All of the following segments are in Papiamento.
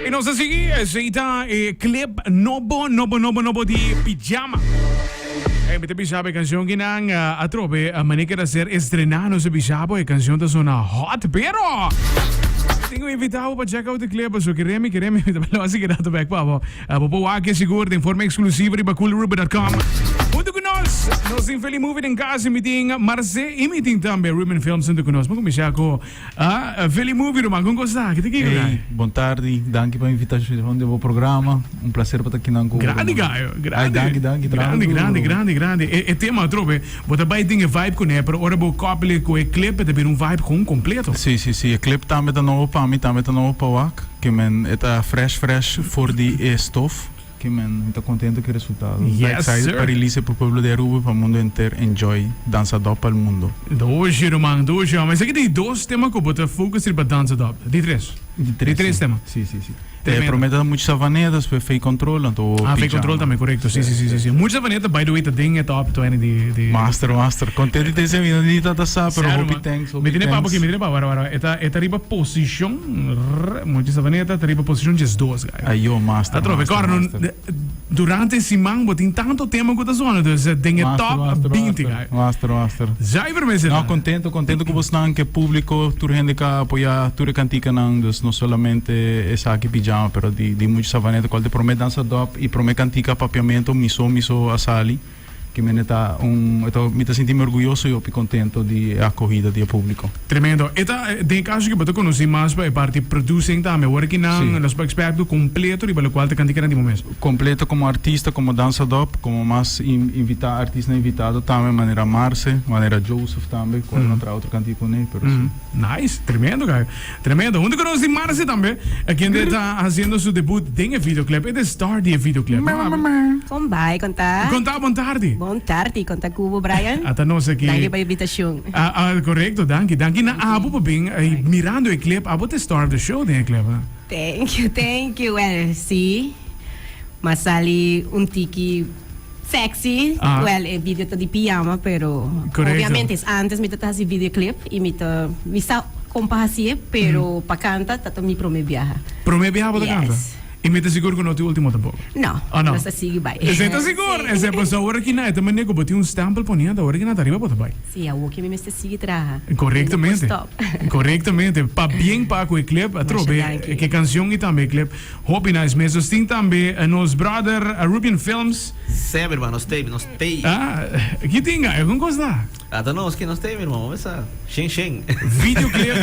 Y nos a sigui, ese y ta e clip nobo, nobo, nobo, nobo di Pijama. Hey, mi te bisa e canción que nan uh, eh, atrobe, uh, eh, mané que ser estrená, no se bisa, e canción ta zona hot, pero... Tengo invitado para check out de clip, so quereme, quereme, mi te lo así que dato back, pavo. Bo por wak e sigur den forma eksklusivo riba coolruben.com. Huntu ku nos, nos tin Feli Movie den kas, mi tin Marce i mi tin tambe Ruben Films huntu ku nos. Bo kuminsha ku Feli Movie Ruben, kon kosa ta aki? Ta kiko ta aki? Ey, bon tardi. Danki pa invitashon den bo programa. Un plaser pa ta kinan ku bo, Grandi, Ruben. Gayo. Grandi. Ay, danki, danki. Traha Grandi, duro, grandi, Ruben. grandi, grandi. E tema atrobe. Bo ta bai den e vibe cun'e, pero ora bo copy'le cu e clip e ta bira un vibe con completo. Sí, sí, sí, e clip tambe ta nobo pa mi, tambe ta nobo pa wak, ke men e ta fresh fresh for di e stof, ke men mi ta contento cu e resultado, mi ta excited pa release e pa pueblo di Aruba y pa mundo enter enjoy Danza Dop pa'l mundo. Doce ruman, doce homber. Esaki ta e dos tema cu bo ta focus riba Danza Dop? Di tres? Di tres, sí, sí, sí. E prome ta mucha savaneta spe fei control anto pijama. Ah fei control tambe corecto si si si si mucha savaneta by the way ta den e top twenty di di. Master master contento di tense avinan di tata sa pero Sero hopi man thanks hopi mi tene papa thanks. ki mi tene papa wara wara wara e ta e ta riba posicion rrr mucha savaneta ta riba posicion diesdos guy Ajo master atrobe master kor no master. Durante e siman bo tin tanto tema ku ta sona dus den e Top binti ka. Zuiver mes edad. No kontento kontento ku bosnan ke publiko tur hende ke a apoyá tur e kantikanan dus no solamente esaki Pijama pero di di mucha Savaneta kual ta e promé dansa dòp i promé kantika Papiamento miso miso a sali. Kimene ta un e ta mi ta sinti mi orguyoso y hopi contento di e acogida di e publico. Tremendo. E ta den e caso cu bo ta conoci mas pa e parti producing tambe, workinan, Si. los bo experto completo riba locual ta cantica na di momes. Completo como artista, como dansadop, como mas invita artisnan invitado tambe manera Marce, manera Joseph tambe, cual no a traha otro canti di cune, pero si. Nice. Tremendo, guy. Tremendo. Huntu cu nos tin Marcy tambe. E kende ta haciendo su debut den e videoclip. E ta star di e videoclip. Meh meh meh. Con bai, con ta? Con ta? Bon tardi. Bon tardi, con ta cu bo Brian? A ta nos aki. Danki pa invitacion. A a correcto, danki. Danki na abo pa bin y mirando e clip. Abo ta star of the show den e clip, eh. Thank you, thank you. Well, si. Mas sali un tiki. Sexy, well e video ta di pijama pero obviamente es antes mi ta ta hasi video clip y mi ta mi sa con pa hasi'e pero pa canta ta ta mi prome biaha. Prome biaha bo ta canta? Yes. Y mi ta sigur cu no ta e ultimo tampoco? No, nos ta sigui bay. Esey ta sigur, esey paso awor aki na e ta manera cu bo tin un stempel poni anta awor aki na ta riba bo ta bay. Si, awoki mi mester sigui traha. Correctamente, correctamente, pa bien pa cu e clip, atrobe, e ke cancion y tambe e clip. Hopi nice mes nos tin tambe nos brother Rubian Films. Sey mi hermano, nos tey, nos tey. Ah, ki tin aya con cos ta? A ta nos ki nos tey mi hermano, mami sa. Shen shen. Videoclip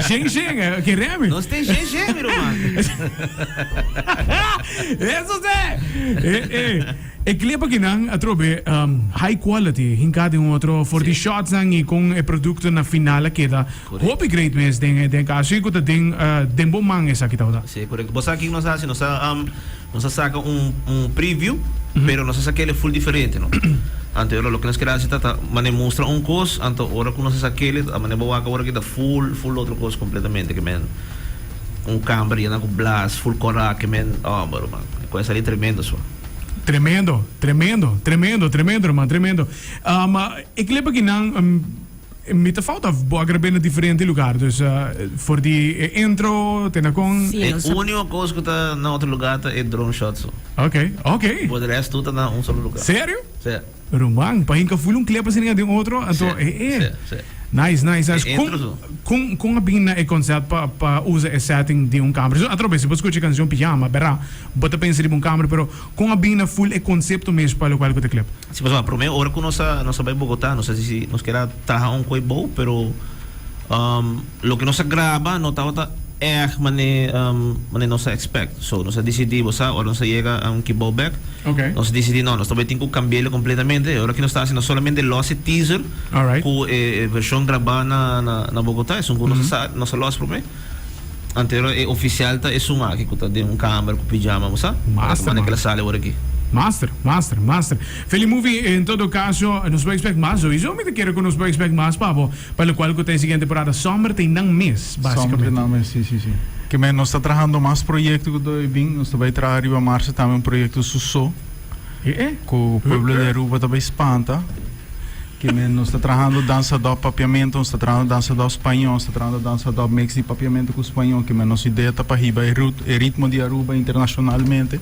shen shen, ki remi? Nos tey shen shen mi roman. Eso se! Eh, eh. E clip aki nan atrobe high quality hinca den otro for di shots nan y con e producto na final a keda. Hopi great mes den den casoe cu ta den den bo man esaki ta ora. Sí, corecto. Bo sa kin nos a haci? Nos a nos a saca un un preview, pero nos a sa kele full diferente, no? Anto ora loke nos kere haci ta ta mane mustra un cos, anto ora cu nos a sa kele ta mane bo wak awor aki ta full full otro cos completamente ke men un camber yena cu blast, full corac ke men homber ruman. E cu a sali tremendo so. Tremendo, tremendo, tremendo, tremendo ruman, tremendo. E kile pakinan. Mi ta fout of bo a grab'é na diferente lugar. Dus for di e intro te na kon? Sí, E nos a. único cos cu ta na otro lugar ta e drone shot so. Ok, ok. Por de resto tur ta na un solo lugar. Serio? Sí. Ruman, pa hinca full un clepa asina den otro, anto Sí, e e. sí, sí. Nice, nice, nice. E Con, intro so. con, con a bin na e concept pa, pa usa e setting di un camera? Su, atrobe, si bo scucha e cancion Pyjama, bera, bo ta pensa riba un camera, pero Con a bin na full e concepto mes pa local cu ta club? Si pasobra prome ora cu nos a nos a bay Bogota nos a dici si nos kier a traha un cu ebow pero loke nos a graba no tabata erg mane mane nos a expect so nos a dicidi bo sa ora nos a yega a un ki bow bek okay nos dicidi no nos ta bay tin cu cambia elo completamente y ora ki nos ta haci no solamente los e teaser cu e version graba na na Bogota esun cu nos a sa nos a los prome. Antero e ofisial ta e su maki ku ta den un kamer ku pijama, bo sa? Master, Mane ke el a sali ora aki? Master, master, master. Feli Movie, en todo kaso, nos por ekspèk mas. Sowiso mi ta kere ku nos por ekspèk mas pa bo, pa lokual ku ta e siguiente temporada. Summer ta innan mes, basikamente. Summer ta innan mes, si, si, si. Kimen nos ta trahando mas proyekto ku do e bin. Nos ta bai traha riba marsa tambe un proyekto su so, ku pueblo di Aruba ta bai spanta. Kende nos ta trahando dansa dòp papiamento, nos ta trahando dansa dòp spañó, nos ta trahando dansa dòp mix di papiamento ku spañó. Kende nos idea ta pa hiba e rut, e ritmo di Aruba internashonalmente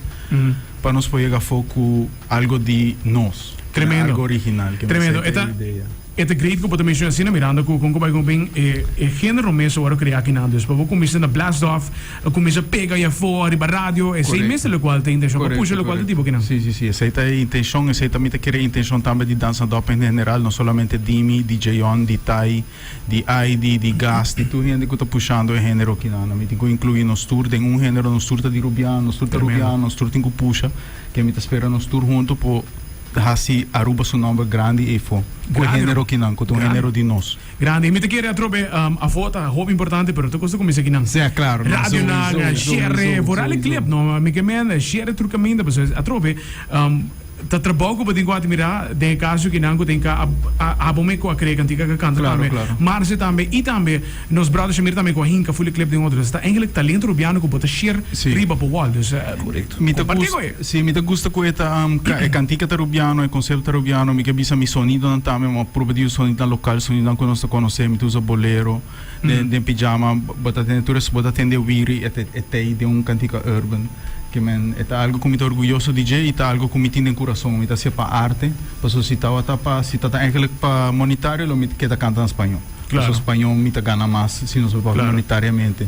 pa nos por yega afó ku algo di nos. Tremendo. Algo original. Kende Tremendo. esei ta e idea. E ta great ku bo ta menshona asina, mirando ku kon ku bai ku nos bin e e género mes a wòrdu kreá akinan. Dus pa bo kuminsá na blast off. a cuminsa pega y a fo ariba radio, esey mes ta locual ta intencion pa pusha locual ta tipo kinan. Si, si, si, esey ta e intencion, esey ta mi ta kere e intencion tambe di Dansa Dop en general, no solamente di mi, di Jayon, di Tay, di Aidy, di Gas, di tur hende cu ta pushando e genero kinan. Ami tin cu inclui nos tur den un genero, nos tur ta di Rubian, nos tur ta Rubian, nos tur tin cu pusha, que ami ta spera nos tur hunto por haci Aruba su nomber grandi ey fo, cu e genero kinan, cu ta un genero di nos. Grandi. Mi ta kere atrobe afo ta hopi importante pero ta kosta kuminsá kinan radionan share por ale clip no mi ke men share tur kaminda pasobra esei atrobe ta trabou ku bo tin ku atmirá den e kaso kinan ku tin ka abo me ku a krea kantika ka kanta tambe Marce tambe i tambe nos bròder Shamir tambe ku a hinka fuli clip den otro dus ta engelek talento rubiano ku bo ta share riba bo wòl dus kompartí ku e. Si, mi ta gusta cu e ta e cantica ta rubiano, e concepto ta rubiano, mi ke bisa mi sonidonan tambe, mi a proba di usa sonidonan local, sonidonan cu nos ta conoce, mi ta usa bolero, den den pijama bo ta tende tur esaki, bo ta tende wiri e e tey den un cantica urban, ke men e ta algo cu mi ta orguyoso di dje y ta algo cu mi tin den curason, mi ta haci'e pa arte, pasobra si tawata pa, si tata eigenlijk pa monitario lo mi ta keda canta na spañó, pasobra spañó mi ta gana mas si nos bai pa hopi monitariamente.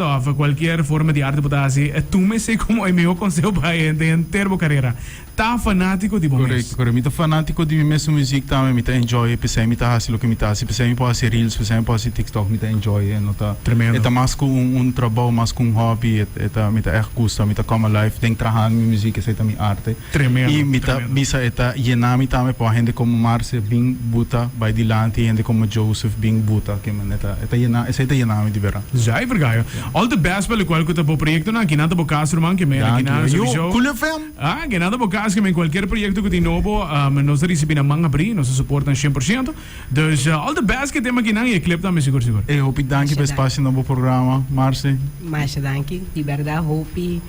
Ta òf kualkier forma di arte bo ta hasi, tuma esei komo e mihó konseho pa haña den henter bo karera, Ta fanátiko di bo mes. Korekto, korekto. Mi ta fanátiko di mi mes su muzik tambe. Mi ta enjoy e p'esei mi ta hasi loke mi ta hasi. P'esei mi por hasi reels, p'esei mi por hasi TikTok. Mi ta enjoy e. No ta, e ta mas ku un un trabou, mas ku un hòbi. E ta, mi ta ègt gusta. Mi ta come alive den trahando mi muzik. Esei ta mi arte. Tremendo, y mi ta tremendo. bisa e ta yena mi tambe pa hende como Marce bin buta bay dilanti y hende como Joseph bin buta ke men e ta e ta yena esey ta yena mi di bera. Zay Vergaio. All the best pa locual cu ta bo proyectonan. Kinan ta bo cas ruman? Ke men aki Danki. na Yo, Sofishow. Cool FM. Ah, kinan ta bo cas ke men cualkier proyecto cu tin nobo, am, nos ta ricibi na man abri, nos ta suportan cien por ciento. Dus, ah, all the best ke tema kinan y e clip tambe sigur sigur. Ey, hopi danki pa e Masha danki. spacio na bo programa, Marce. Masha danki. Di berdad hopi.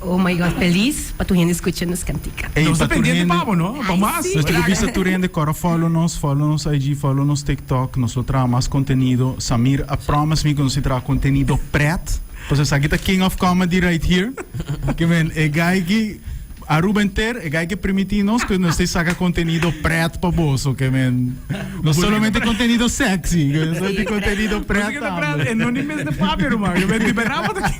Oh my God felis pa tur hende scucha nos cantica. Ey, Nos ta pa tur pendiente hende- pa bo, no? Pa Ay, mas. sí. Nos quiere bisa tur hende cora follow nos, follow nos IG, follow nos TikTok. Nos lo traha mas contenido. Samir a promise mi cu nos tin traha contenido pret. Pasobra esaki ta king of comedy right here. Ki men, e guy ki, Aruba enter, e guy ki primiti nos cu nos tin saca contenido pret pa boso. Ki men, no solamente contenido sexy, nos tin contenido Nos pret quiere pret, tambe. e no ni mes de Fabio, ruman. Yo ben, di verdad, bo ta king